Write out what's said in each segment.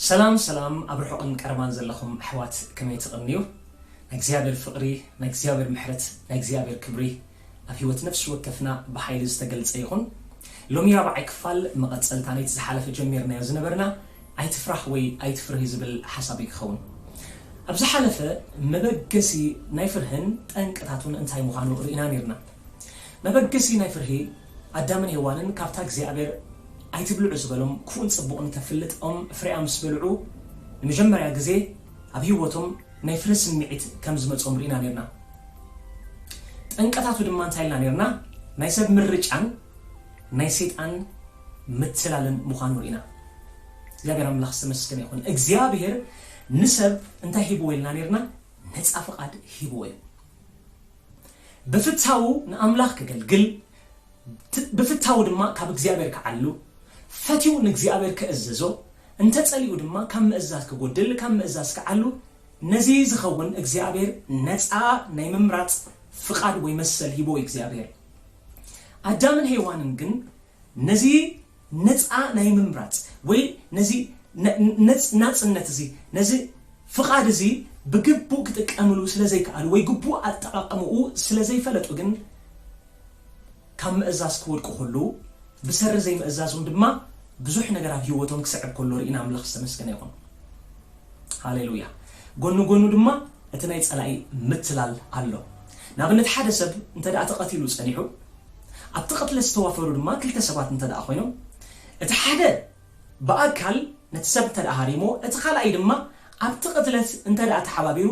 ሰላም ሰላም ኣብ ርሑቕን ቀረባን ዘለኹም ኣሕዋት ከመይ ትቕንዩ ናይ እግዚኣብሔር ፍቕሪ ናይ እግዚኣብሔር ምሕረት ናይ እግዚኣብሔር ክብሪ ኣብ ህይወት ነፍሲ ወከፍና ብሓይሊ ዝተገልጸ ይኹን ሎሚ ራብዓይ ክፋል መቐጸልታ ነቲ ዝሓለፈ ጀሚርናዮ ዝነበርና ኣይትፍራሕ ወይ ኣይትፍርሂ ዝብል ሓሳብ እዩ ክኸውን ኣብ ዝሓለፈ መበገሲ ናይ ፍርህን ጠንቅታቱን እንታይ ምዃኑ ርኢና ነርና መበገሲ ናይ ፍርሂ፣ ኣዳምን ሄዋንን ካብታ እግዚኣብሔር ኣይትብልዑ ዝበሎም ክፉእን ጽቡቕን እተፍልጥ ኦም ፍሬኣ ምስ በልዑ ንመጀመርያ ግዜ ኣብ ሕይወቶም ናይ ፍርሂ ስምዒት ከም ዝመጾም ርኢና ኔርና። ጠንቅታቱ ድማ እንታይ ኢልና ኔርና ናይ ሰብ ምርጫን ናይ ሰይጣን ምትላልን ምዃኑ ርኢና። እግዚኣብሔር ኣምላኽ ዝተመስገነ ይኹን። እግዚኣብሔር ንሰብ እንታይ ሂብዎ ኢልና ኔርና ነጻ ፍቓድ ሂብዎ እዩ። ብፍታዉ ንኣምላኽ ከገልግል፣ ብፍታዉ ድማ ካብ እግዚኣብሔር ክዓሉ፣ ፈትዩ ንእግዚኣብሔር ክእዘዞ፣ እንተ ጸሊኡ ድማ ካብ ምእዛዝ ክጎድል፣ ካብ ምእዛዝ ክዓሉ፣ ነዚ ዝኸውን እግዚኣብሔር ነጻ ናይ ምምራጽ ፍቓድ ወይ መሰል ሂቦ እዩ እግዚኣብሔር። ኣዳምን ሄዋንን ግን ነዚ ነጻ ናይ ምምራጽ ወይ ነዚ ናጽነት እዚ ነዚ ፍቓድ እዚ ብግቡእ ክጥቀምሉ ስለ ዘይከኣሉ ወይ ግቡእ ኣጠቓቕምኡ ስለ ዘይፈለጡ ግን ካብ ምእዛዝ ክወድቁ ከለዉ ብሰሪ ዘይምእዛዞም ድማ ብዙሕ ነገር ኣብ ህይወቶም ክስዕብ ከሎ ርኢና ኣምላኽ ዝተመስገነ ይኹን ሃሌሉያ ጎኑ ጎኑ ድማ እቲ ናይ ጸላኢ ምትላል ኣሎ ንኣብነት ሓደ ሰብ እንተ ተቐቲሉ ጸኒሑ ኣብቲ ቅትለት ዝተዋፈሩ ድማ ክልተ ሰባት እንተድኣ ኮይኖም፣ እቲ ሓደ ብኣካል ነቲ ሰብ እንተድኣ ሃሪምዎ፣ እቲ ካልኣይ ድማ ኣብቲ ቅትለት እንተድኣ ተሓባቢሩ፣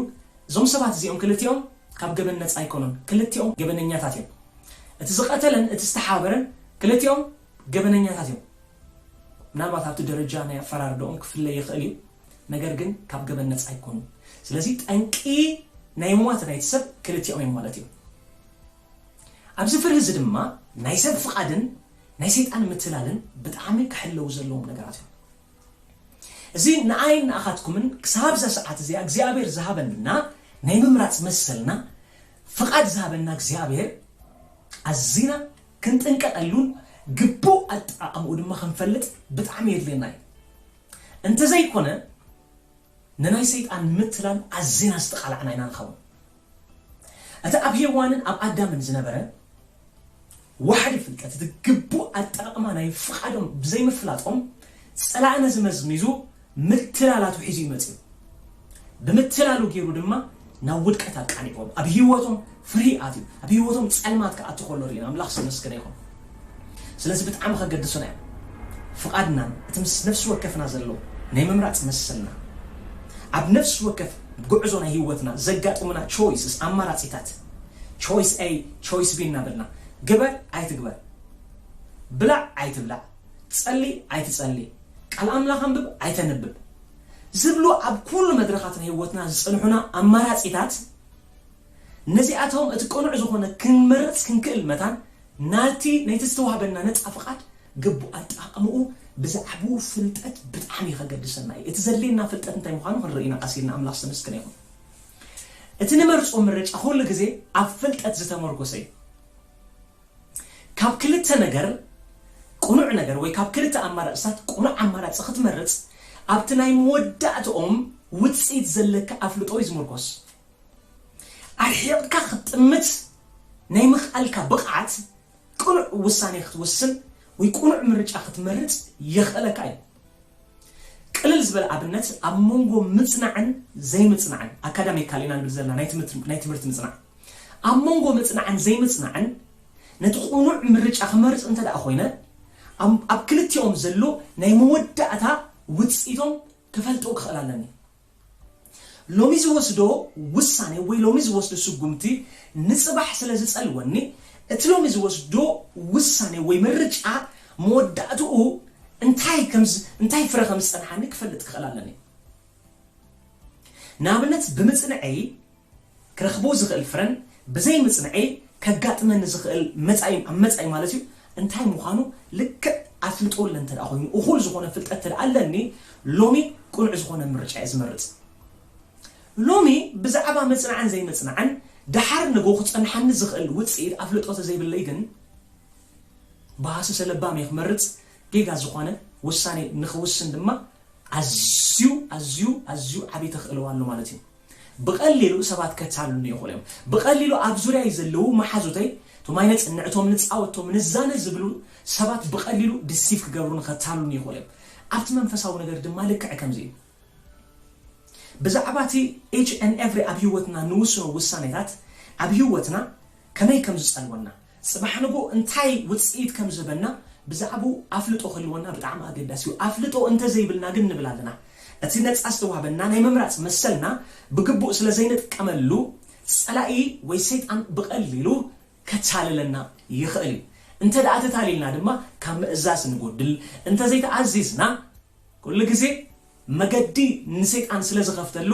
እዞም ሰባት እዚኦም ክልቲኦም ካብ ገበን ነጻ ኣይኮኑን። ክልቲኦም ገበነኛታት እዮም። እቲ ዝቐተለን እቲ ዝተሓባበረን ክልቲኦም ገበነኛታት እዮም። ምናልባት ኣብቲ ደረጃ ናይ ኣፈራርዳኦም ክፍለ ይኽእል እዩ፣ ነገር ግን ካብ ገበን ነጻ ኣይኮኑን። ስለዚ ጠንቂ ናይ ሟት ናይቲ ሰብ ክልቲኦም እዮም ማለት እዩ። ኣብዚ ፍርሂ እዚ ድማ ናይ ሰብ ፍቓድን ናይ ሰይጣን ምትላልን ብጣዕሚ ክሕለዉ ዘለዎም ነገራት እዮም። እዚ ንኣይን ንኣኻትኩምን ክሳብ እዛ ሰዓት እዚኣ እግዚኣብሔር ዝሃበና ናይ ምምራጽ መሰልና ፍቓድ ዝሃበና እግዚኣብሔር ኣዚና ክንጥንቀቐሉን ግቡእ ኣጠቓቕምኡ ድማ ክንፈልጥ ብጣዕሚ የድልየና እዩ። እንተዘይኮነ ንናይ ሰይጣን ንምትላል ኣዚና ዝተቓላዕና ኢና ንኸውን። እቲ ኣብ ሄዋንን ኣብ ኣዳምን ዝነበረ ዋሕዲ ፍልጠት፣ እቲ ግቡእ ኣጠቓቕማ ናይ ፍቓዶም ብዘይምፍላጦም፣ ጸላኢ ነዚ መዝሚዙ ምትላል ኣትውሒዙ እዩ መጺኡ። ብምትላሉ ገይሩ ድማ ናብ ውድቀት ኣቃሊዕዎም። ኣብ ህይወቶም ፍሪ ኣትዩ ኣብ ሂወቶም ጸልማት ክኣቱ ከሎ ሪኢና ኣምላኽ ዝተመስገነ ይኹን ስለዚ ብጣዕሚ ከገድሱና እዮም ፍቃድናን እቲ ምስ ነፍሲ ወከፍና ዘሎ ናይ ምምራጽ መሰልና ኣብ ነፍሲ ወከፍ ጉዕዞ ናይ ሂወትና ዘጋጥሙና ቾይስስ ኣማራጺታት ቾይስ ኤይ ቾይስ ቢ እናበልና ግበር ኣይትግበር ብላዕ ኣይትብላዕ ጸሊ ኣይትጸሊ ቃል ኣምላኽ ኣንብብ ኣይተንብብ ዝብሉ ኣብ ኩሉ መድረኻት ናይ ሂወትና ዝጽንሑና ኣማራጺታት ነዚኣቶም እቲ ቅኑዕ ዝኾነ ክንመርጽ ክንክእል መታን ናቲ ነቲ ዝተዋህበና ነጻ ፍቓድ ግቡእ ኣጠቓቕማኡ ብዛዕብኡ ፍልጠት ብጣዕሚ ከገድሰና እዩ። እቲ ዘድልየና ፍልጠት እንታይ ምዃኑ ክንርኢ ኢና ቀስ ኢልና ኣምላኽ ዝተመስገነ ይኹን። እቲ ንመርጾ ምርጫ ኩሉ ግዜ ኣብ ፍልጠት ዝተመርኮሰ እዩ። ካብ ክልተ ነገር ቅኑዕ ነገር ወይ ካብ ክልተ ኣማራጽታት ቅኑዕ ኣማራጺ ክትመርጽ ኣብቲ ናይ መወዳእትኦም ውጽኢት ዘለካ ኣፍልጦ እዩ ዝምርኮስ። ኣርሒቕካ ክትጥምት ናይ ምኽኣልካ ብቕዓት፣ ቅኑዕ ውሳኔ ክትውስን ወይ ቅኑዕ ምርጫ ክትመርጽ የኽእለካ እዩ። ቅልል ዝበለ ኣብነት፣ ኣብ መንጎ ምጽናዕን ዘይምጽናዕን፣ Academically ኢና ንብል ዘለና፣ ናይ ትምህርቲ ምጽናዕ፣ ኣብ መንጎ ምጽናዕን ዘይምጽናዕን ነቲ ቅኑዕ ምርጫ ክመርጽ እንተድኣ ኮይነ፣ ኣብ ክልቲኦም ዘሎ ናይ መወዳእታ ውጽኢቶም ክፈልጦ ክኽእል ኣለኒ። ሎሚ ዝወስዶ ውሳኔ ወይ ሎሚ ዝወስዶ ስጉምቲ ንጽባሕ ስለ ዝጸልወኒ፣ እቲ ሎሚ ዝወስዶ ውሳኔ ወይ ምርጫ መወዳእትኡ እንታይ ከም እንታይ ፍረ ከም ዝጸንሓኒ ክፈልጥ ክኽእል ኣለኒ። ንኣብነት ብምጽንዔይ ክረኽቦ ዝኽእል ፍረን ብዘይ ምጽንዔይ ከጋጥመኒ ዝኽእል መጻኢን ኣብ መጻኢ ማለት እዩ እንታይ ምዃኑ ልክዕ ኣፍልጦ ኣለ እንተደኣ ኮይኑ እኹል ዝኾነ ፍልጠት እንተደኣ ኣለኒ ሎሚ ቅኑዕ ዝኾነ ምርጫ እየ ዝመርጽ ሎሚ ብዛዕባ ምጽናዕን ዘይምጽናዕን ደሓር ንግሆ ክጸንሓኒ ዝኽእል ውጽኢት ኣፍልጦ ተዘይብለይ ግን ብሃሰሰ ለባም እየ ክመርጽ ጌጋ ዝኾነ ውሳኔ ንኽውስን ድማ ኣዝዩ ኣዝዩ ኣዝዩ ዓቢ ተኽእሎ ኣሎ ማለት እዩ። ብቐሊሉ ሰባት ከታልሉኒ ይኽእሉ እዮም። ብቐሊሉ ኣብ ዙርያይ ዘለዉ መሓዙተይ፣ እቶም ኣይነጽንዕ፣ እቶም ንጻወት፣ እቶም ንዛነ ዝብሉ ሰባት ብቐሊሉ ድሲቭ ክገብሩኒ፣ ከታልሉኒ ይኽእሉ እዮም። ኣብቲ መንፈሳዊ ነገር ድማ ልክዕ ከምዚ እዩ። ብዛዕባ እቲ ኢች ኤንድ ኤቭሪ ኣብ ህይወትና እንውስኖ ውሳኔታት ኣብ ህይወትና ከመይ ከም ዝጸልወና፣ ጽባሕ ንግሆ እንታይ ውጽኢት ከም ዝህበና ብዛዕባኡ ኣፍልጦ ክህልወና ብጣዕሚ ኣገዳሲ እዩ። ኣፍልጦ እንተ ዘይብልና ግን ንብል ኣለና፣ እቲ ነጻ ዝተዋህበና ናይ ምምራጽ መሰልና ብግቡእ ስለ ዘይንጥቀመሉ፣ ጸላኢ ወይ ሰይጣን ብቐሊሉ ከታልለና ይኽእል እዩ። እንተድኣ ተታሊልና ድማ ካብ ምእዛዝ ንጎድል፣ እንተ ዘይተኣዚዝና ኩሉ ግዜ መገዲ ንሰይጣን ስለ ዝኸፍተሉ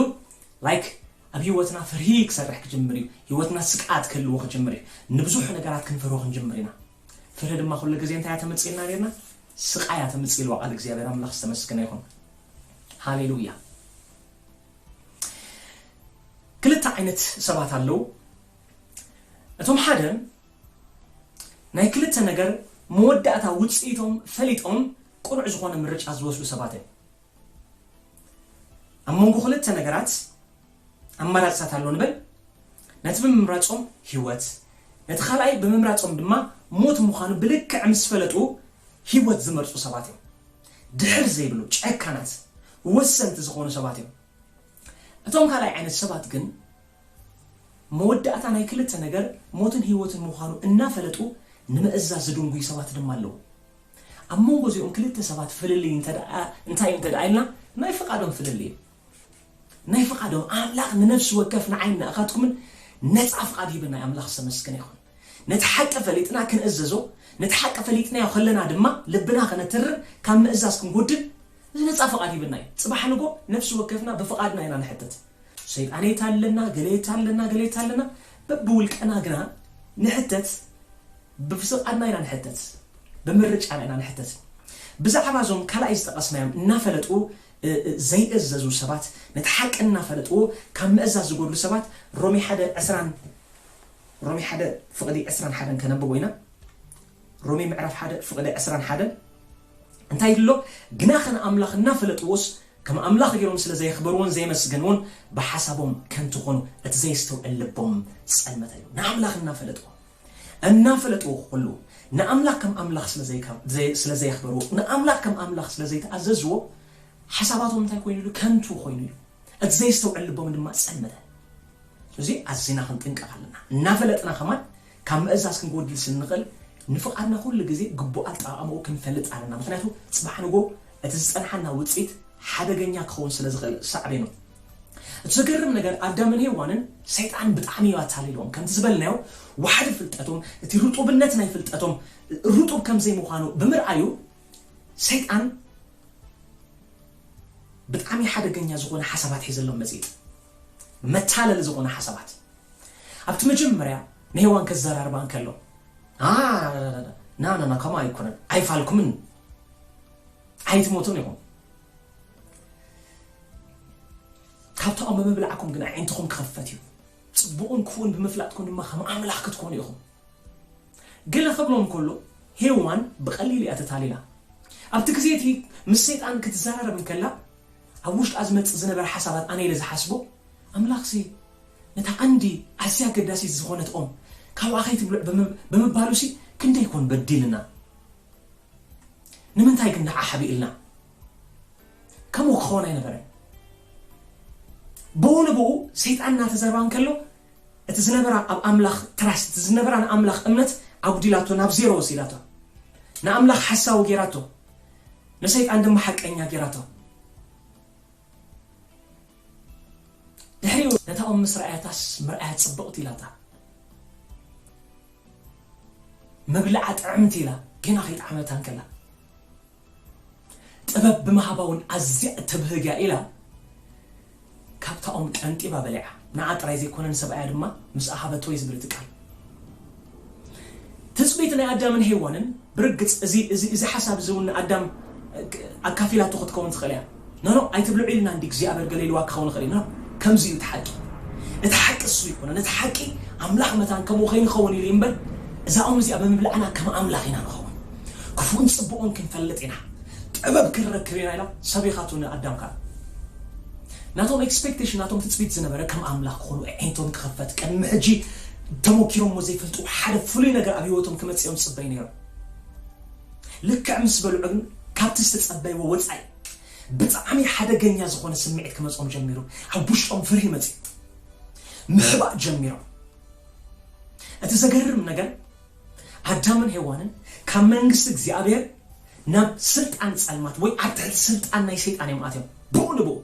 like ኣብ ሂወትና ፍርሂ ክሰርሕ ክጅምር እዩ ሂወትና ስግኣት ክህልዎ ክጅምር እዩ ንብዙሕ ነገራት ክንፈርሆ ክንጅምር ኢና ፍርሂ ድማ ኩሉ ግዜ እንታይ እያ ተምጽኢልና ኔርና ስቃይ እያ ተምጽእ ኢልዋ ቃል እግዚኣብሔር ኣምላኽ ዝተመስገነ ይኹን ሃሌሉያ ክልተ ዓይነት ሰባት ኣለዉ እቶም ሓደ ናይ ክልተ ነገር መወዳእታ ውጽኢቶም ፈሊጦም ቅኑዕ ዝኾነ ምርጫ ዝወስዱ ሰባት እዮም። ኣብ መንጎ ክልተ ነገራት ኣማራፅታት ኣሎ ንበል፣ ነቲ ብምምራፆም ህይወት፣ ነቲ ካልኣይ ብምምራፆም ድማ ሞት ምዃኑ ብልክዕ ምስ ፈለጡ ህይወት ዝመርፁ ሰባት እዮም። ድሕር ዘይብሉ፣ ጨካናት፣ ወሰንቲ ዝኾኑ ሰባት እዮም። እቶም ካልኣይ ዓይነት ሰባት ግን መወዳእታ ናይ ክልተ ነገር ሞትን ህይወትን ምዃኑ እናፈለጡ ንምእዛዝ ዝድንጉዩ ሰባት ድማ ኣለዉ። ኣብ መንጎ እዚኦም ክልተ ሰባት ፍልልይ እንተደኣ እንታይ እዩ እንተደኣ ኢልና ናይ ፍቃዶም ፍልልይ እዩ ናይ ፍቃዶም ኣምላኽ ንነፍሲ ወከፍ ንዓይን ንኣኻትኩምን ነጻ ፍቃድ ሂብና እዩ ኣምላኽ ዝተመስገነ ይኹን ነቲ ሓቂ ፈሊጥና ክንእዘዞ ነቲ ሓቂ ፈሊጥናዮ ከለና ድማ ልብና ከነትርር ካብ ምእዛዝ ክንጎድል እዚ ነጻ ፍቃድ ሂብና እዩ ጽባሕ ንጎ ነፍሲ ወከፍና ብፍቃድና ኢና ንሕተት ሰይጣን የታለና ገለ የታለና ገለ የታለና በብውልቀና ግና ንሕተት ብፍቓድና ኢና ንሕተት፣ ብምርጫና ኢና ንሕተት። ብዛዕባ እዞም ካልኣይ ዝጠቐስናዮም እናፈለጡ ዘይእዘዙ ሰባት፣ ነቲ ሓቂ እናፈለጡ ካብ ምእዛዝ ዝጎድሉ ሰባት ሮሜ ሓደ ዕስራን ሮሜ ሓደ ፍቕዲ ዕስራን ሓደን ከነብቦ ኢና። ሮሜ ምዕራፍ ሓደ ፍቕዲ ዕስራን ሓደን እንታይ ይብል ኣሎ? ግናኸ ንኣምላኽ እናፈለጥዎስ ከም ኣምላኽ ገይሮም ስለ ዘየኽበርዎን ዘየመስገንዎን ብሓሳቦም ከንቱ ኾኑ፣ እቲ ዘየስተውዕል ልቦም ጸልመተ እዩ። ንኣምላኽ እናፈለጥዎ እናፈለጥዎ ኹሉ ንኣምላኽ ከም ኣምላኽ ስለ ዘይካ ዘይ ስለ ዘየኽበርዎ ንኣምላኽ ከም ኣምላኽ ስለ ዘይተኣዘዝዎ ሓሳባቶም እንታይ ኮይኑ ኢሉ ከንቱ ኾይኑ ኢሉ እቲ ዘይስተውዕል ልቦም ድማ ጸልመተ ስለዚ ኣዚና ክንጥንቀቕ ኣለና እናፈለጥና ከማን ካብ ምእዛዝ ክንጎድል ስለ ንኽእል ንፍቓድና ኩሉ ግዜ ግቡእ ኣጠቓቕማኡ ክንፈልጥ ኣለና ምኽንያቱ ጽባሕ ንጎ እቲ ዝጸንሓና ውጽኢት ሓደገኛ ክኸውን ስለ ዝኽእል ሳዕቤኑ እቲ ዘገርም ነገር ኣዳምን ሄዋንን ሰይጣን ብጣዕሚ እዩ ኣታሊልዎም ከምቲ ዝበልናዮ ዋሕዲ ፍልጠቶም እቲ ርጡብነት ናይ ፍልጠቶም ርጡብ ከምዘይ ምዃኑ ብምርኣዩ ሰይጣን ብጣዕሚ ሓደገኛ ዝኾነ ሓሳባት ሒዘሎም መጺጥ መታለሊ ዝኾነ ሓሳባት ኣብቲ መጀመርያ ንሄዋን ከዘራርባ እንከሎ ናናና ከምኡ ኣይኮነን ኣይፋልኩምን ኣይትሞቱን ኢኹም ካብ ተኦም ብምብላዕኩም ግን ኣዒንትኹም ክኽፈት እዩ ጽቡቕን ክፉእን ብምፍላጥኩም ድማ ከም ኣምላኽ ክትኮኑ ኢኹም ገለ ክብሎም ከሎ ሄዋን ብቐሊሉ እያ ተታሊላ ኣብቲ ግዜ እቲ ምስ ሰይጣን ክትዘራረብ እንከላ ኣብ ውሽጣ ዝመጽእ ዝነበረ ሓሳባት ኣነ ኢለ ዝሓስቦ ኣምላኽሲ ነታ ቀንዲ ኣዝያ ኣገዳሲት ዝኾነት ኦም ካብኣ ከይትብልዕ ብምባሉሲ ክንደይ ኮን በዲልና ንምንታይ ግን ደኣ ሓቢእልና ከምኡ ክኸውን ኣይነበረን ብኡ ንብኡ ሰይጣን እናተዘርባ እንከሎ እቲ ዝነበራ ኣብ ኣምላኽ ትራስ እቲ ዝነበራ ንኣምላኽ እምነት ኣጉዲላቶ ናብ ዜሮ ወሲዳቶ ንኣምላኽ ሓሳዊ ጌራቶ ንሰይጣን ድማ ሓቀኛ ጌራቶ ድሕሪኡ ነታ ኦም ምስ ረኣያታስ ምርኣያ ጽብቕቲ ኢላታ ምብልዓ ጥዕምቲ ኢላ ጌና ከይጠዓመታ እንከላ ጥበብ ብምሃባ ውን ኣዝያ እተብህግ እያ ኢላ ካብታ ኦም ቀንጢባ በሊዓ ንዓ ጥራይ ዘይኮነ ንሰብኣያ ድማ ምስኣ ሃበቶ እዩ ዝብል እቲ ቃል። ትጽቢት ናይ ኣዳምን ሄዋንን ብርግጽ እዚ እዚ እዚ ሓሳብ እዚ እውን ንኣዳም ኣካፊላቶ ክትከውን ትኽእል እያ። ኖኖ ኣይትብልዑ ኢልና እንዲ እግዚኣብሔር ገለ ኢልዋ ክኸውን ይኽእል እዩ። ኖ ከምዚ እዩ እቲ ሓቂ። እቲ ሓቂ እሱ ኣይኮነን። እቲ ሓቂ ኣምላኽ መታን ከምኡ ከይንኸውን ኢሉ እዩ እምበር እዛ ኦም እዚኣ ብምብላዕና ከም ኣምላኽ ኢና ንኸውን። ክፉእን ጽቡቕን ክንፈልጥ ኢና። ጥበብ ክንረክብ ኢና ኢላ ሰበይኻቱ ንኣዳም ከኣ። ናቶም ኤክስፐክተሽን ናቶም ትጽቢት ዝነበረ ከም ኣምላኽ ክኾኑ ኣዒንቶም ክኽፈት ቅድሚ ሕጂ ተሞኪሮሞ ዘይፈልጡ ሓደ ፍሉይ ነገር ኣብ ሂወቶም ክመጽእ እዮም ዝጽበዩ ነይሮም ልክዕ ምስ በልዑ ግን ካብቲ ዝተጸበይዎ ወጻኢ ብጣዕሚ ሓደገኛ ዝኾነ ስምዒት ክመጾም ጀሚሩ ኣብ ውሽጦም ፍርሂ መጽዩ ምሕባእ ጀሚሮም እቲ ዘገርም ነገር ኣዳምን ሄዋንን ካብ መንግስቲ እግዚኣብሔር ናብ ስልጣን ጸልማት ወይ ኣብ ትሕቲ ስልጣን ናይ ሰይጣን እዮም ኣትዮም ብኡ ንብኡ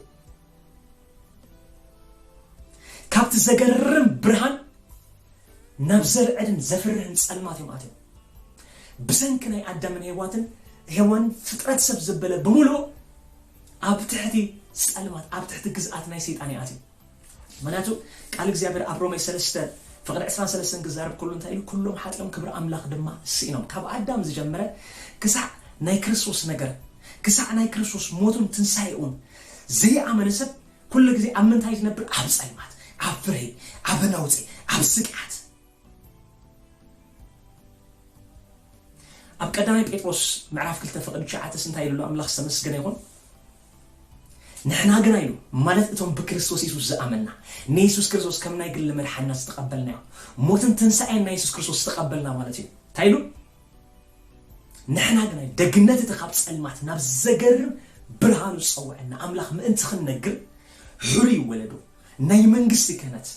ካብቲ ዘገርም ብርሃን ናብ ዘርዕድን ዘፍርህን ጸልማት እዮም ኣትዮም ብሰንኪ ናይ ኣዳምን ሄዋትን ሄዋንን ፍጥረት ሰብ ዘበለ ብምልኡ ኣብ ትሕቲ ጸልማት ኣብ ትሕቲ ግዝኣት ናይ ሰይጣን ይኣትዩ ምክንያቱ ቃል እግዚኣብሔር ኣብ ሮሜ ሰለስተ ፍቅድ ዕስራን ሰለስተን ክዛረብ ከሎ እንታይ ኢሉ ኩሎም ሓጢኦም ክብሪ ኣምላክ ድማ ስኢኖም ካብ ኣዳም ዝጀመረ ክሳዕ ናይ ክርስቶስ ነገር ክሳዕ ናይ ክርስቶስ ሞቱን ትንሳኤኡን ዘይኣመነ ሰብ ኩሉ ግዜ ኣብ ምንታይ ዝነብር ኣብ ጸልማት ኣብ ፍርሂ ኣብ ነውጺ ኣብ ስግኣት ኣብ ቀዳማይ ጴጥሮስ ምዕራፍ ክልተ ፍቅድ ትሽዓተስ እንታይ ኢሉ ኣሎ ኣምላክ ዝተመስገነ ይኹን ንሕና ግና ኢሉ፣ ማለት እቶም ብክርስቶስ የሱስ ዝኣመንና፣ ንየሱስ ክርስቶስ ከም ናይ ግሊ መድሓኒና ዝተቐበልናዮ፣ ሞትን ትንሳኤን ናይ የሱስ ክርስቶስ ዝተቐበልና ማለት እዩ። እንታይ ኢሉ? ንሕና ግና ኢሉ፣ ደግነት እቲ ካብ ጸልማት ናብ ዘገርም ብርሃኑ ዝጸውዐና ኣምላኽ ምእንቲ ክንነግር፣ ሕሩይ ወለዶ፣ ናይ መንግስቲ ክህነት፣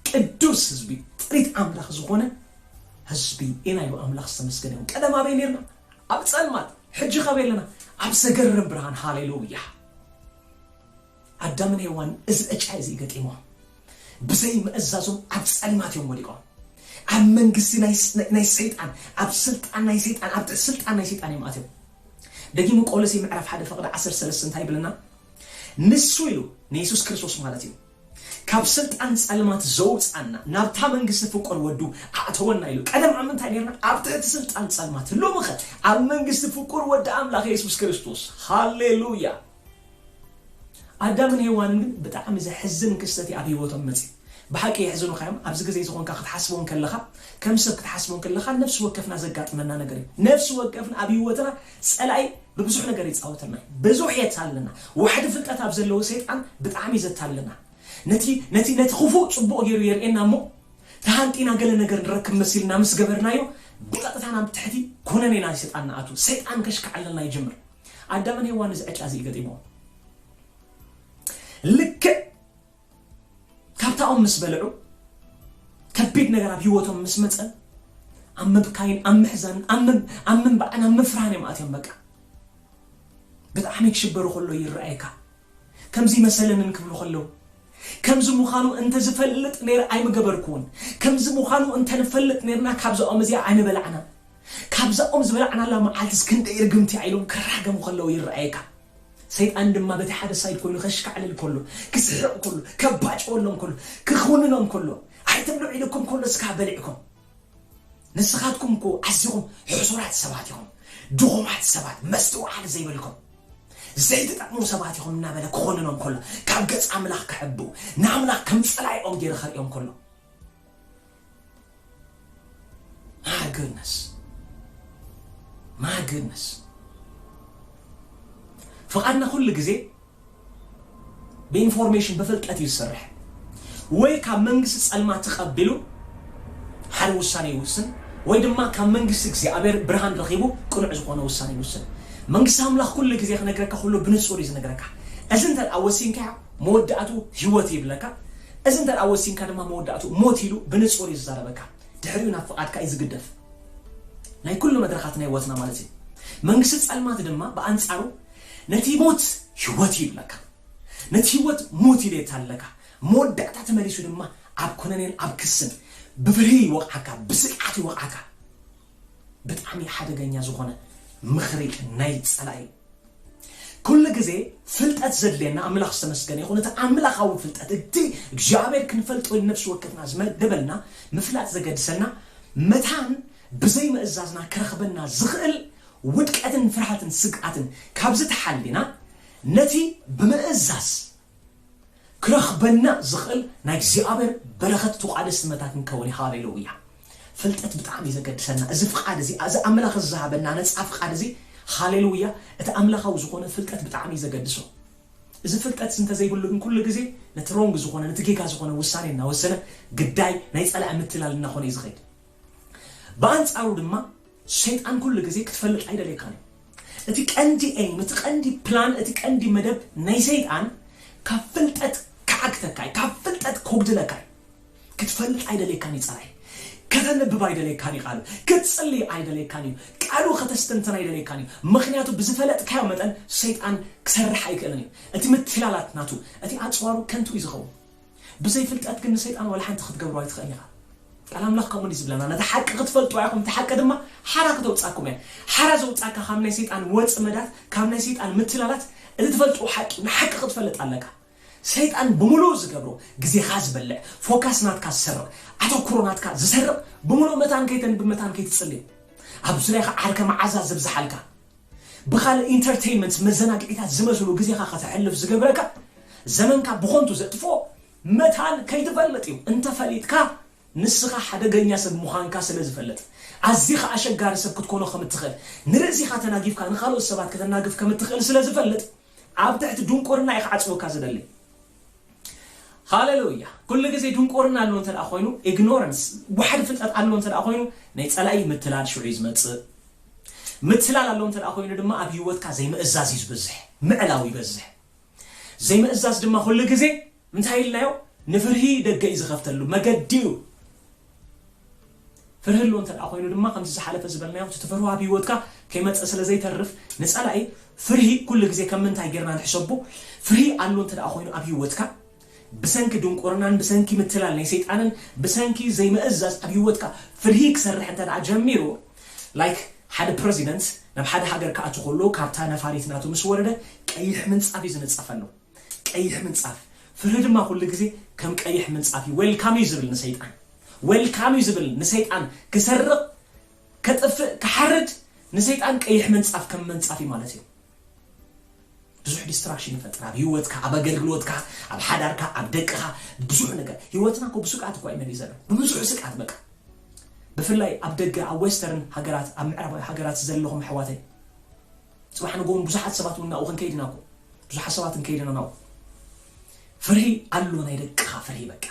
ቅዱስ ህዝቢ፣ ጥሪት ኣምላኽ ዝኾነ ህዝቢ ኢና ኢሉ፣ ኣምላኽ ዝተመስገነ ይኹን። ቀደም ኣበይ ኔርና? ኣብ ጸልማት ሕጂ ካበይ ኣለና ኣብ ዘገርም ብርሃን ሃሌሉያ። ኣዳምን ሄዋን እዚ ዕጫ እዚ ገጢሞም ብዘይ ምእዛዞም ኣብ ጸልማት እዮም ወዲቆም ኣብ መንግስቲ ናይ ሰይጣን ኣብ ስልጣን ናይ ሰይጣን ኣብ ትሕቲ ስልጣን ናይ ሰይጣን እዮም ኣትዮም ደጊሙ ቆሎሴ ምዕራፍ ሓደ ፈቕዲ ዓሰርተ ሰለስተ እንታይ ይብለና ንሱ ኢሉ ንየሱስ ክርስቶስ ማለት እዩ ካብ ስልጣን ጸልማት ዘውጽኣና ናብታ መንግስቲ ፍቁር ወዱ ኣእተወና ኢሉ። ቀደም ኣብ ምንታይ ኔርና? ኣብ ትሕቲ ስልጣን ጸልማት። ሎምኸ? ኣብ መንግስቲ ፍቁር ወዲ ኣምላኽ የሱስ ክርስቶስ። ሃሌሉያ! ኣዳምን ሄዋንን ግን ብጣዕሚ ዘሕዝን ክስተት እዩ ኣብ ህይወቶም መጺኡ። ብሓቂ የሕዝኑኻ እዮም። ኣብዚ ግዜ እዚ ኮንካ ክትሓስቦ እንከለኻ፣ ከም ሰብ ክትሓስቦ እንከለኻ ነፍሲ ወከፍና ዘጋጥመና ነገር እዩ። ነፍሲ ወከፍና ኣብ ህይወትና ጸላኢ ብብዙሕ ነገር ይጻወተልና እዩ ብዙሕ የታልለና ዋሕዲ ፍልጠት ኣብ ዘለዎ ሰይጣን ብጣዕሚ እዩ ዘታልለና ነቲ ነቲ ነቲ ክፉእ ጽቡቕ ገይሩ የርእየና እሞ ተሃንጢና ገለ ነገር ንረክብ መሲልና ምስ ገበርናዮ ብቐጥታ ናብ ትሕቲ ኩነኔ ናይ ሰይጣን ንኣቱ ሰይጣን ከሽክዓለልና ይጅምር ኣዳምን ሄዋን እዚ ዕጫ እዚ እዩ ገጢምዎም ልክዕ ካብታ ኦም ምስ በልዑ ከቢድ ነገር ኣብ ሂወቶም ምስ መጸ ኣብ ምብካይን ኣብ ምሕዛንን ኣብ ምንባዕን ኣብ ምፍርሃን እዮም ኣትዮም በቃ ብጣዕሚ ክሽበሩ ከሎ ይረኣየካ ከምዚ መሰለንን ክብሉ ከለው ከምዚ ምዃኑ እንተ ዝፈልጥ ነይረ ኣይምገበርኩውን ከምዚ ምዃኑ እንተ ንፈልጥ ነይርና ካብዛ ኦም እዚኣ ኣይምበላዕናን ካብዛ ኦም ዝበላዕናላ መዓልትስ ክንደይ ርግምቲያ ኢሎም ክራገሙ ከለው ይረኣየካ ሰይጣን ድማ በቲ ሓደ ሳይድ ኮይኑ ከሽካዕልል ከሎ፣ ክስሕቕ ከሎ፣ ከባጭወሎም ከሎ፣ ክኹንኖም ከሎ፣ ኣይትብልዑ ኢሉኩም ከሎ እስካ በሊዕኩም። ንስኻትኩም እኮ ኣዚኹም ሕሱራት ሰባት ኢኹም፣ ድኹማት ሰባት፣ መስትውዓል ዘይብልኩም፣ ዘይትጠቕሙ ሰባት ኢኹም እናበለ ክኹንኖም ከሎ፣ ካብ ገጽ ኣምላኽ ክሕብኡ፣ ንኣምላኽ ከም ጸላኢኦም ጌሩ ከርእዮም ከሎ፣ My goodness. My goodness. ፍቓድና ኩሉ ግዜ ብኢንፎርሜሽን ብፍልጠት እዩ ዝሰርሕ ወይ ካብ መንግስቲ ጸልማ ተቐቢሉ ሓደ ውሳኔ ይውስን ወይ ድማ ካብ መንግስቲ እግዚኣብሔር ብርሃን ረኺቡ ቅኑዕ ዝኾነ ውሳኔ ይውስን መንግስቲ ኣምላኽ ኩሉ ግዜ ክነግረካ ኩሉ ብንጹር እዩ ዝነግረካ እዚ እንተ ወሲንካ መወዳእትኡ ህይወት እዩ ይብለካ፣ እዚ እንተ ደኣ ወሲንካ ድማ መወዳእትኡ ሞት ኢሉ ብንጹር እዩ ዝዛረበካ። ድሕሪኡ ናብ ፍቓድካ እዩ ዝግደፍ። ናይ ኩሉ መድረኻት ናይ ህይወትና ማለት እዩ። መንግስቲ ጸልማት ድማ ብኣንጻሩ ነቲ ሞት ህይወት እዩ ይብለካ፣ ነቲ ህይወት ሞት ኢሉ የታልለካ፣ መወዳእታ ተመሊሱ ድማ ኣብ ኩነኔን ኣብ ክስን ብፍርሂ ይወቕዓካ፣ ብስግኣት ይወቕዓካ። ብጣዕሚ ሓደገኛ ዝኾነ ምኽሪ ናይ ጸላኢ እዩ። ኩሉ ግዜ ፍልጠት ዘድልየና ኣምላኽ ዝተመስገነ ይኹን እቲ ኣምላኻዊ ፍልጠት እቲ እግዚኣብሔር ክንፈልጦ ኢሉ ነፍሲ ወከፍና ዝመደበልና ምፍላጥ ዘገድሰና መታን ብዘይ ምእዛዝና ክረኽበና ዝኽእል ውድቀትን ፍርሃትን ስግኣትን ካብዚ ተሓሊና ነቲ ብምእዛዝ ክረኽበና ዝኽእል ናይ እግዚኣብሔር በረኸት ትቋደስቲ መታትን ከውን ሃሌሉያ ፍልጠት ብጣዕሚ ዘገድሰና እዚ ፍቃድ እዚ እዚ ኣምላኽ እዚ ዝሃበና ነፃ ፍቃድ እዚ ሃሌሉያ እቲ ኣምላኻዊ ዝኾነ ፍልጠት ብጣዕሚ ዘገድሶ እዚ ፍልጠት እዚ እንተዘይብሉ ግን ኩሉ ግዜ ነቲ ሮንግ ዝኾነ ነቲ ጌጋ ዝኾነ ውሳኔ እናወሰነ ግዳይ ናይ ጸላኢ ምትላል እናኾነ እዩ ዝኸይድ ብኣንጻሩ ድማ ሰይጣን ኩሉ ግዜ ክትፈልጥ ኣይደልየካን እዩ። እቲ ቀንዲ ኤይም፣ እቲ ቀንዲ ፕላን፣ እቲ ቀንዲ መደብ ናይ ሰይጣን ካብ ፍልጠት ክዓግተካ እዩ፣ ካብ ፍልጠት ከጉድለካ እዩ። ክትፈልጥ ኣይደልየካን እዩ ጸላኢ። ከተንብብ ኣይደልየካን እዩ ቃሉ፣ ክትጽሊ ኣይደልየካን እዩ፣ ቃሉ ከተስተንትን ኣይደልየካን እዩ። ምኽንያቱ ብዝፈለጥካዮ መጠን ሰይጣን ክሰርሕ ኣይክእልን እዩ። እቲ ምትላላት ናቱ፣ እቲ ኣጽዋሩ ከንቱ እዩ ዝኸውን። ብዘይ ፍልጠት ግን ንሰይጣን ዋላ ሓንቲ ክትገብሮ ኣይትኽእልን ኢኻ። ቃል ኣምላኽ ከምኡ እንድዩ ዝብለና ነታ ሓቂ ክትፈልጡዋ ኢኹም እታ ሓቂ ድማ ሓራ ክተውጻኩም እያ። ሓራ ዘውጻካ ካብ ናይ ሰይጣን ወጽመዳት ካብ ናይ ሰይጣን ምትላላት እቲ ትፈልጥዎ ሓቂ እዩ። ንሓቂ ክትፈልጥ ኣለካ። ሰይጣን ብምሉኡ ዝገብሮ ግዜኻ ዝበልዕ ፎካስ ናትካ ዝሰርቕ ኣተኩሮ ናትካ ዝሰርቕ ብምሉኡ መታን ከይተንብብ መታን ከይትጽሊ እዩ። ኣብ ዙርያኻ ዓርከ መዓዛ ዘብዝሓልካ። ብኻልእ ኢንተርተይንመንት መዘናግዒታት ዝመስሉ ግዜኻ ከተሕልፍ ዝገብረካ ዘመንካ ብኾንቱ ዘጥፍኦ መታን ከይትፈልጥ እዩ እንተ ፈሊጥካ ንስኻ ሓደገኛ ሰብ ምዃንካ ስለ ዝፈልጥ ኣዚኻ ኣሸጋሪ ሰብ ክትኮኖ ከም እትኽእል ንርእሲኻ ተናጊፍካ ንኻልኦት ሰባት ከተናግፍ ከም እትኽእል ስለ ዝፈልጥ ኣብ ትሕቲ ድንቁርና እዩ ክዓጽወካ ዝደሊ ሃለሉያ ኩሉ ግዜ ድንቁርና ኣሎ እንተ ኮይኑ ኢግኖረንስ ዋሕዲ ፍልጠት ኣሎ እንተ ኮይኑ ናይ ጸላኢ ምትላል ሽዑ እዩ ዝመጽእ ምትላል ኣሎ እንተ ኮይኑ ድማ ኣብ ህይወትካ ዘይምእዛዝ እዩ ዝበዝሕ ምዕላው ይበዝሕ ዘይምእዛዝ ድማ ኩሉ ግዜ እንታይ ኢልናዮ ንፍርሂ ደገ እዩ ዝኸፍተሉ መገዲ እዩ ፍርሂ ኣሎ እንተ ደኣ ኮይኑ ድማ ከምቲ ዝሓለፈ ዝበልናዮ እቲ ትፈርሆ ኣብ ህይወትካ ከይመጸ ስለ ዘይተርፍ ንጸላኢ ፍርሂ ኩሉ ግዜ ከም ምንታይ ጌርና ንሕሰቦ ፍርሂ ኣሎ እንተ ደኣ ኮይኑ ኣብ ህይወትካ ብሰንኪ ድንቁርናን ብሰንኪ ምትላል ናይ ሰይጣንን ብሰንኪ ዘይምእዛዝ ኣብ ህይወትካ ፍርሂ ክሰርሕ እንተ ደኣ ጀሚሩ like ሓደ ፕረዚደንት ናብ ሓደ ሃገር ክኣቱ ከሎ ካብታ ነፋሪት ናቱ ምስ ወረደ ቀይሕ ምንጻፍ እዩ ዝንጸፈሉ። ቀይሕ ምንጻፍ ፍርሂ ድማ ኩሉ ግዜ ከም ቀይሕ ምንጻፍ እዩ ዌልካም እዩ ዝብል ንሰይጣን ዌልካም እዩ ዝብል ንሰይጣን ክሰርቕ ከጥፍእ ክሓርድ ንሰይጣን ቀይሕ ምንጻፍ ከም ምንጻፍ እዩ ማለት እዩ ብዙሕ ዲስትራክሽን ይፈጥር ኣብ ሂወትካ ኣብ ኣገልግሎትካ ኣብ ሓዳርካ ኣብ ደቅኻ ብዙሕ ነገር ሂወትና ኮ ብስግኣት እኳ እዩ መሊእ ዘሎ ብብዙሕ ስግኣት በቃ ብፍላይ ኣብ ደገ ኣብ ዌስተርን ሃገራት ኣብ ምዕራባዊ ሃገራት ዘለኹም ኣሕዋተይ ጽባሕ ንግሆ ውን ብዙሓት ሰባት ውን ናብኡ ክንከይድ ኢና እኮ ብዙሓት ሰባት ክንከይድ ኢና ናብኡ ፍርሂ ኣሎ ናይ ደቅኻ ፍርሂ በቃ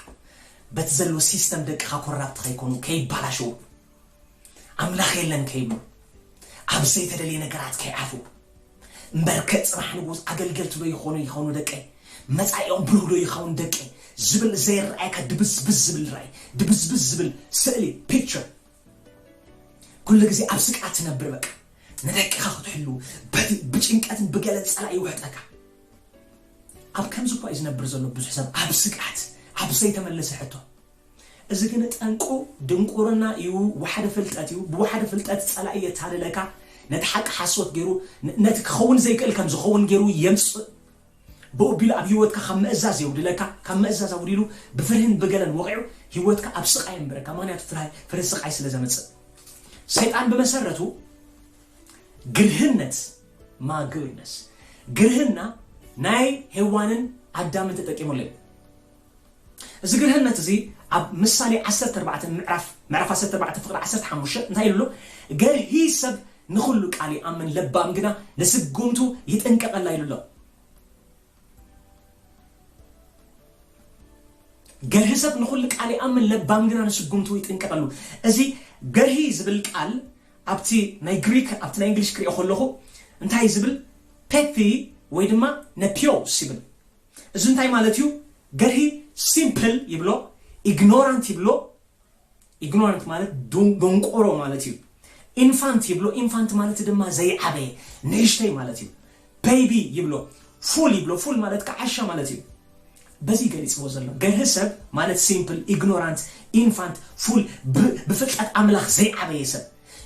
በቲ ዘሎ ሲስተም ደቅኻ ኮራፕት ከይኮኑ ከይባላሸው ኣምላኽ የለን ከይብሉ ኣብ ዘይተደልየ ነገራት ከይዓፉ እምበርከ ጽባሕ ንጉስ ኣገልገልቲ ዶ ይኾኑ ይኾኑ ደቀይ መጻኢኦም ብሩህ ዶ ይኸውን ደቀይ ዝብል ዘይረኣየካ ድብዝብዝ ዝብል ራእይ ድብዝብዝ ዝብል ስእሊ ፒክቸር ኩሉ ግዜ ኣብ ስግኣት ትነብር በቃ ንደቅኻ ክትሕሉ በቲ ብጭንቀትን ብገለን ጸላኢ ይውሕጠካ ኣብ ከምዚ እኳ እዩ ዝነብር ዘሎ ብዙሕ ሰብ ኣብ ስግኣት ኣብ ዘይተመለሰ ሕቶ እዚ ግን ጠንቁ ድንቁርና እዩ ዋሕደ ፍልጠት እዩ ብዋሕደ ፍልጠት ጸላኢ የታልለካ ነቲ ሓቂ ሓሶት ገይሩ ነቲ ክኸውን ዘይክእል ከም ዝኸውን ገይሩ የምጽእ ብኡ ኣቢሉ ኣብ ህይወትካ ካብ ምእዛዝ የጉድለካ፣ ካብ ምእዛዝ ኣጉዲሉ ብፍርህን ብገለን ወቒዑ ህይወትካ ኣብ ስቓይ የንብረካ፣ ምኽንያቱ ፍርህ ስቓይ ስለ ዘምጽእ። ሰይጣን ብመሰረቱ ግርህነት፣ Maguiness፣ ግርህና ናይ ሄዋንን ኣዳምን ተጠቂሙሉ እዩ። እዚ ግርህነት እዚ ኣብ ምሳሌ ዓሰርተ ኣርባዕተ ምዕራፍ ምዕራፍ ዓሰርተ ኣርባዕተ ፍቕዲ ዓሰርተ ሓሙሽተ እንታይ ኢሉ ኣሎ ገርሂ ሰብ ንኹሉ ቃል ይኣምን ለባም ግና ንስጉምቱ ይጥንቀቐላ ኢሉ ኣሎ። ገርሂ ሰብ ንኹሉ ቃል ይኣምን ለባም ግና ንስጉምቱ ይጥንቀቐሉ እዚ ገርሂ ዝብል ቃል ኣብቲ ናይ ግሪክ ኣብቲ ናይ እንግሊሽ ክሪኦ ከለኹ እንታይ ዝብል ፔፊ ወይ ድማ ነፒዮስ ይብል እዚ እንታይ ማለት እዩ ገርሂ ሲምፕል ይብሎ ኢግኖራንት ይብሎ ኢግኖራንት ማለት ዶንቆሮ ማለት እዩ ኢንፋንት ይብሎ ኢንፋንት ማለት ድማ ዘይዓበየ ንእሽተይ ማለት እዩ ቤቢ ይብሎ ፉል ይብሎ ፉል ማለት ከዓሻ ማለት እዩ በዚ ገሊጽዎ ዘሎ ገርህ ሰብ ማለት ሲምፕል ኢግኖራንት ኢንፋንት ፉል ብፍልጠት ኣምላኽ ዘይዓበየ ሰብ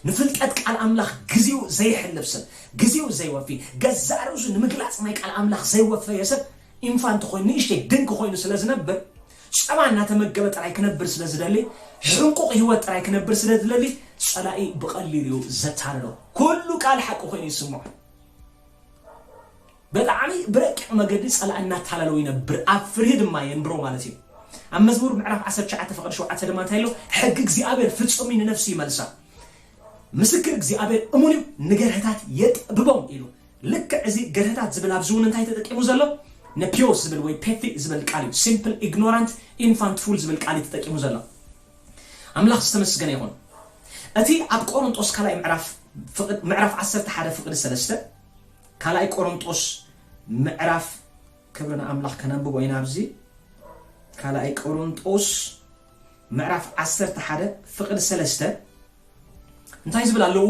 ንፍልጠት ቃል ኣምላኽ ግዜኡ ዘየሕልፍ ሰብ፣ ግዜኡ ዘይወፊ፣ ገዛእ ርእሱ ንምግላጽ ናይ ቃል ኣምላኽ ዘይወፈየ ሰብ፣ ኢንፋንት ኮይኑ፣ ንእሽተይ ድንክ ኮይኑ ስለ ዝነብር፣ ጸባ እናተመገበ ጥራይ ክነብር ስለ ዝደሊ፣ ሕንቁቕ ህይወት ጥራይ ክነብር ስለ ዝደሊ፣ ጸላኢ ብቐሊሉ'ዩ ዘታልሎ። ኩሉ ቃል ሓቂ ኮይኑ ይስምዖ። በጣዕሚ ብረቂቕ መገዲ ጸላኢ እናታለለው ይነብር ኣብ ፍርሂ ድማ የንብሮ ማለት እዩ። ኣብ መዝሙር ምዕራፍ ዓሰርተ ትሽዓተ ፍቕዲ ሸውዓተ ድማ እንታይ ኢሎ ሕጊ እግዚኣብሔር ፍጹም እዩ ንነፍሲ ይመልሳ ምስክር እግዚኣብሔር እሙን እዩ ንገርህታት የጥብቦም ኢሉ ልክዕ እዚ ገርህታት ዝብል ኣብዚ እውን እንታይ ተጠቂሙ ዘሎ ነፒዮስ ዝብል ወይ ፔፊ ዝብል ቃል እዩ ሲምፕል ኢግኖራንት ኢንፋንት ፉል ዝብል ቃል እዩ ተጠቂሙ ዘሎ ኣምላኽ ዝተመስገነ ይኹን እቲ ኣብ ቆሮንጦስ ካልኣይ ምዕራፍ ምዕራፍ ዓሰርተ ሓደ ፍቕዲ ሰለስተ ካልኣይ ቆሮንጦስ ምዕራፍ ክብሪ ንኣምላኽ ከነንብቦ ኢና ኣብዚ ካልኣይ ቆሮንጦስ ምዕራፍ ዓሰርተ ሓደ ፍቕድ ሰለስተ እንታይ ዝብል ኣለዉ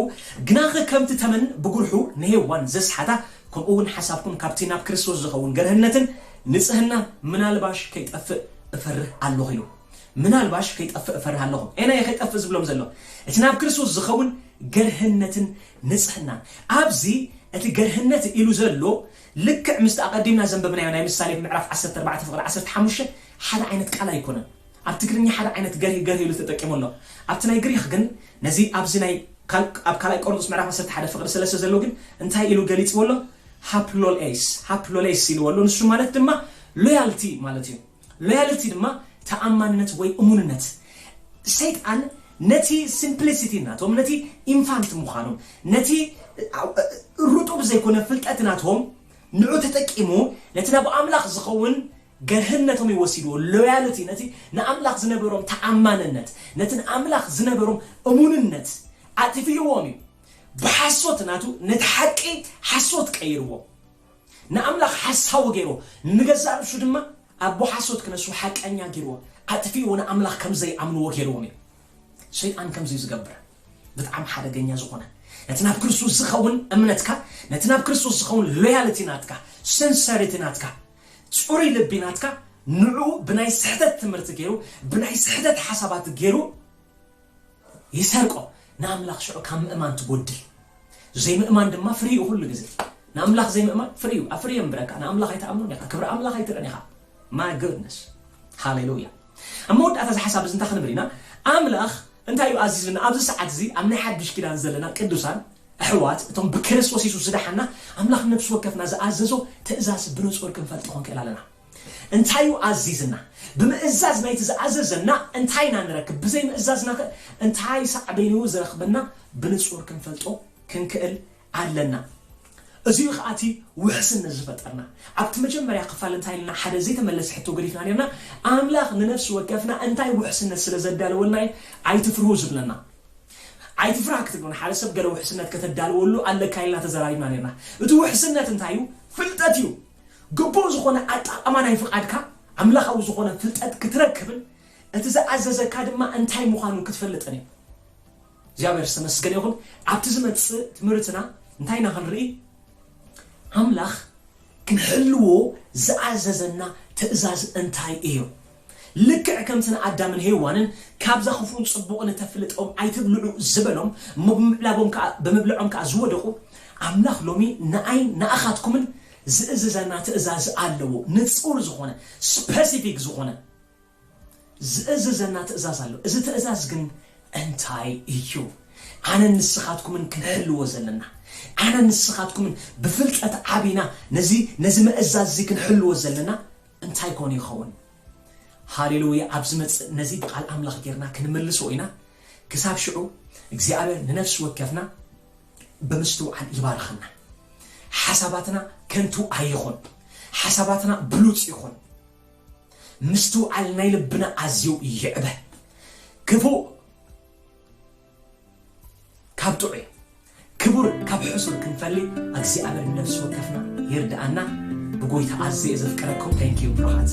ግናኸ ከምቲ ተመን ብጉርሑ ንሄዋን ዘስሓታ ከምኡ እውን ሓሳብኩም ካብቲ ናብ ክርስቶስ ዝኸውን ገርህነትን ንጽህና ምናልባሽ ከይጠፍእ እፈርህ ኣለኹ ኢሉ ምናልባሽ ከይጠፍእ እፈርህ ኣለኹ ኤና እየ ከይጠፍእ ዝብሎም ዘሎ እቲ ናብ ክርስቶስ ዝኸውን ገርህነትን ንጽሕና፣ ኣብዚ እቲ ገርህነት ኢሉ ዘሎ ልክዕ ምስቲ ኣቐዲምና ዘንበብናዮ ናይ ምሳሌ ምዕራፍ ዓሰርተ ኣርባዕተ ፍቕዲ ዓሰርተ ሓሙሽተ ሓደ ዓይነት ቃል ኣይኮነን። ኣብ ትግርኛ ሓደ ዓይነት ገርሂ ገርሂ ኢሉ ተጠቂሙ ኣሎ። ኣብቲ ናይ ግሪኽ ግን ነዚ ኣብዚ ናይ ኣብ ካልኣይ ቆሮንጦስ ምዕራፍ ዓሰርተ ሓደ ፍቕዲ ሰለስተ ዘሎ ግን እንታይ ኢሉ ገሊጽዎ ኣሎ? ሃፕሎልኤስ፣ Haplolais፣ ኢልዎ ኣሎ። ንሱ ማለት ድማ ሎያልቲ ማለት እዩ። Loyalty ድማ ተኣማንነት ወይ እሙንነት። ሰይጣን ነቲ Simplicity ናቶም፣ ነቲ ኢንፋንት ምዃኖም፣ ነቲ ርጡብ ዘይኮነ ፍልጠት ናቶም ንዑ ተጠቂሙ ነቲ ናብ ኣምላኽ ዝኸውን ገርህነቶም እዩ ወሲድዎ። Loyalty ነቲ ንኣምላኽ ዝነበሮም ተኣማንነት፣ ነቲ ንኣምላኽ ዝነበሮም እሙንነት ኣጥፊእዎም እዩ። ብሓሶት ናቱ ነቲ ሓቂ ሓሶት ቀይርዎ። ንኣምላኽ ሓሳዊ ገይርዎ፣ ንገዛእ ርእሱ ድማ ኣቦ ሓሶት ክነሱ ሓቀኛ ገይርዎ፣ ኣጥፊእዎ ንኣምላኽ ከም ዘይኣምንዎ ገይርዎም እዩ። ሰይጣን ከምዚ እዩ ዝገብር። ብጣዕሚ ሓደገኛ ዝኾነ ነቲ ናብ ክርስቶስ ዝኸውን እምነትካ፣ ነቲ ናብ ክርስቶስ ዝኸውን ሎያልቲ ናትካ፣ ስንሰሪቲ ናትካ፣ ጽሩይ ልቢ ናትካ ንዕኡ ብናይ ስሕተት ትምህርቲ ገይሩ፣ ብናይ ስሕተት ሓሳባት ገይሩ፣ ይሰርቆ ንኣምላኽ ሽዑ ካብ ምእማን ትጎድል ዘይምእማን ድማ ፍሪኡ ኩሉ ግዜ ንኣምላኽ ዘይምእማን ፍሪኡ ኣብ ፍሪ የንብረካ ንኣምላኽ ኣይትኣምኖን ኢኻ ክብሪ ኣምላኽ ኣይትርእን ኢኻ ማይ ጉድነስ ሃሌሉያ ኣብ መወዳእታ እዚ ሓሳብ እዚ እንታይ ክንብል ኢና ኣምላኽ እንታይ እዩ ኣዚዙና ኣብዚ ሰዓት እዚ ኣብ ናይ ሓድሽ ኪዳን ዘለና ቅዱሳን ኣሕዋት እቶም ብክርስቶስ የሱስ ዝደሓና ኣምላኽ ነብሲ ወከፍና ዝኣዘዞ ትእዛዝ ብንጹር ክንፈልጦ ክንክእል ኣለና እንታይ'ዩ ኣዚዝና? ብምእዛዝ ናይቲ ዝኣዘዘና እንታይ ኢና ንረክብ? ብዘይምእዛዝናኸ እንታይ ሳዕቤን'ዩ ዝረኽበና? ብንጹር ክንፈልጦ ክንክእል ኣለና። እዚ'ዩ ኸኣ እቲ ውሕስነት ዝፈጠርና። ኣብቲ መጀመርያ ክፋል እንታይ ኢልና ሓደ ዘይተመለሰ ሕቶ ገዲፍና ኔርና፣ ኣምላኽ ንነፍሲ ወከፍና እንታይ ውሕስነት ስለ ዘዳለወልና'ዩ ኣይትፍርሁ ዝብለና? ኣይትፍራህ ክትብሎ ንሓደ ሰብ ገለ ውሕስነት ከተዳልወሉ ኣለካ ኢልና ተዘራሪብና ኔርና። እቲ ውሕስነት እንታይ'ዩ? ፍልጠት'ዩ። ግቡእ ዝኾነ ኣጣቓማ ናይ ፍቓድካ ኣምላኻዊ ዝኾነ ፍልጠት ክትረክብን እቲ ዝኣዘዘካ ድማ እንታይ ምዃኑ ክትፈልጥን እዩ። እግዚኣብሔር ዝተመስገነ ይኹን ኣብቲ ዝመጽእ ትምህርትና እንታይ ኢና ክንርኢ ኣምላኽ ክንሕልዎ ዝኣዘዘና ትእዛዝ እንታይ እዩ። ልክዕ ከምቲ ንኣዳምን ሄዋንን ካብዛ ክፉእን ጽቡቕን እተፍልጥኦም ኣይትብልዑ ዝበሎም እሞ ብምብላቦም ከኣ ብምብልዖም ከኣ ዝወደቑ ኣምላኽ ሎሚ ንኣይን ንኣኻትኩምን ዝእዝዘና ትእዛዝ ኣለዎ ንጹር ዝኾነ ስፐሲፊክ ዝኾነ ዝእዝዘና ትእዛዝ ኣሎ እዚ ትእዛዝ ግን እንታይ እዩ ኣነን ንስኻትኩምን ክንሕልዎ ዘለና ኣነን ንስኻትኩምን ብፍልጠት ዓቢና ነዚ ነዚ መእዛዝ እዚ ክንሕልዎ ዘለና እንታይ ኮን ይኸውን? ሃሌሉያ! ኣብ ዝመጽእ ነዚ ብቓል ኣምላኽ ጌርና ክንምልሶ ኢና። ክሳብ ሽዑ እግዚኣብሔር ንነፍሲ ወከፍና ብምስትውዓል ይባርኸና። ሓሳባትና ከንቱ ኣይኹን፣ ሓሳባትና ብሉጽ ይኹን፣ ምስትውዓል ናይ ልብና ኣዝዩ ይዕበ። ክፉእ ካብ ጥዑይ ክቡር ካብ ሕሱር ክንፈሊ ኣግዚኣብሔር ንነፍሲ ወከፍና ይርድኣና ብጎይታ ኣዝየ እየ ዘፍቅረኩም thank you ብሩኻት